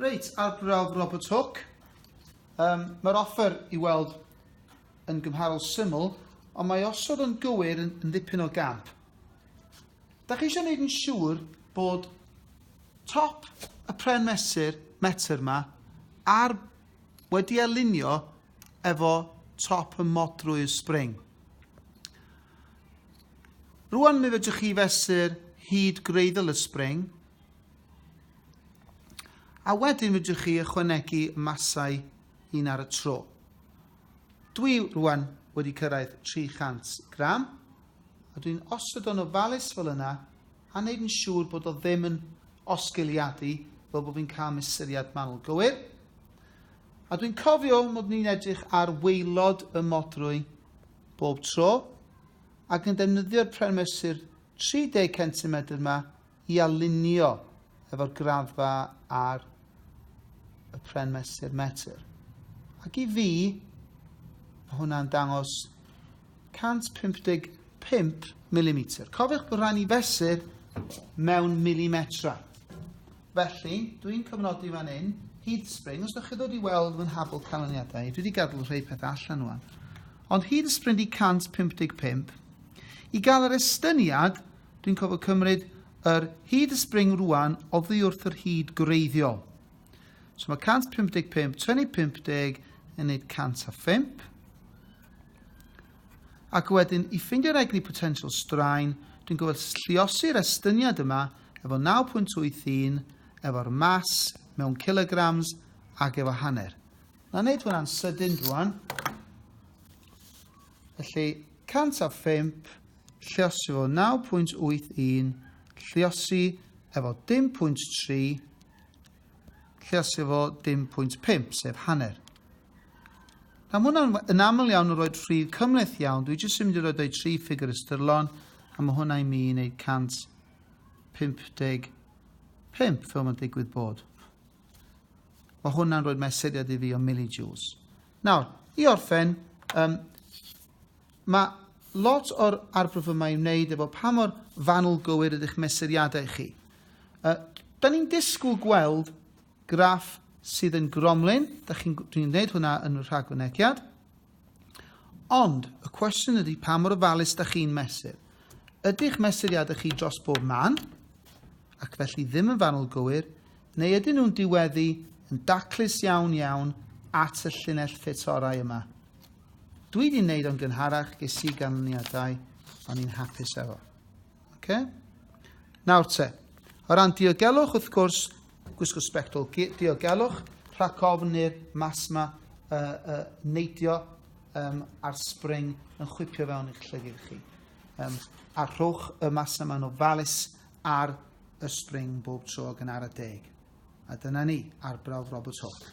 Reit, arbrawf Robert Hooke. Um, Mae'r offer i weld yn gymharol syml, ond mae osod yn gywir yn, yn ddipyn o gamp. Da chi eisiau gwneud yn siŵr bod top y pren mesur metr yma ar wedi alinio efo top y modrwy y spring. Rwan mi fedrwch chi fesur hyd greiddyl y spring, a wedyn fedrwch chi ychwanegu masau un ar y tro. Dwi rwan wedi cyrraedd 300 gram, a dwi'n osod o'n ofalus fel yna a wneud yn siŵr bod o ddim yn osgiliadu fel bod fi'n cael mesuriad manwl gywir. A dwi'n cofio mod ni'n edrych ar weilod y modrwy bob tro ac yn defnyddio'r premysur 30 cm yma i alinio efo'r graddfa ar y pren mesur metr. Ac i fi, mae hwnna'n dangos 155 mm. Cofiwch bod rhaid ni fesur mewn milimetra. Felly, dwi'n cyfnodi fan hyn, hyd spring, os ydych chi ddod i weld fy nhafl canlyniadau, dwi wedi gadw rhai pethau allan nhw'n. Ond hyd y spring di 155, i gael yr estyniad, Dwi'n cofio cymryd yr hyd y spring rwan oddi wrth yr hyd gwreiddiol. So mae 155 tynnu 50 yn neud 105. Ac wedyn, i ffindio'r egni potential straen, dwi'n gofod lliosi'r estyniad yma efo 9.81, efo'r mas mewn kilograms ac efo hanner. Na wneud hwnna'n sydyn rwan. Felly, 105 Lliosi efo 9.81, lliosi efo 10.3, lliosi efo 10.5, sef hanner. Nawr, mae hwnna'n yn aml iawn yn rhoi rhif cymleth iawn. Dwi jyst yn mynd i roi doi tri ffigur ystyrlon, a mae hwnna i mi yn ei 155, fel mae'n digwydd bod. Mae hwnna'n rhoi mesuriad i fi o millijoules. Nawr, i orffen, um, Mae lot o'r arbrawf yma i'w wneud efo pa mor fanwl gywir ydych mesuriadau chi. Uh, da ni'n disgwyl gweld graff sydd yn gromlin, da chi'n chi'n gwneud hwnna yn y rhagfynegiad. Ond y cwestiwn ydy pa mor ofalus da chi'n mesur. Ydych mesuriadau chi dros bob man, ac felly ddim yn fanwl gywir, neu ydyn nhw'n diweddu yn daclus iawn iawn at y llinell ffit orau yma? Dwi di wneud o'n gynharach, ges i ganlyniadau, o'n i'n hapus efo. Okay? Nawr te, o ran diogelwch, wrth gwrs, gwisgo sbectol diogelwch, rhac ofn i'r mas yma uh, uh, neidio um, a'r spring yn chwipio fewn i'ch llygir chi. Um, a rhowch y mas yma yn ofalus ar y spring bob tro gan ar y deg. A dyna ni, arbrawf Robert Hawke.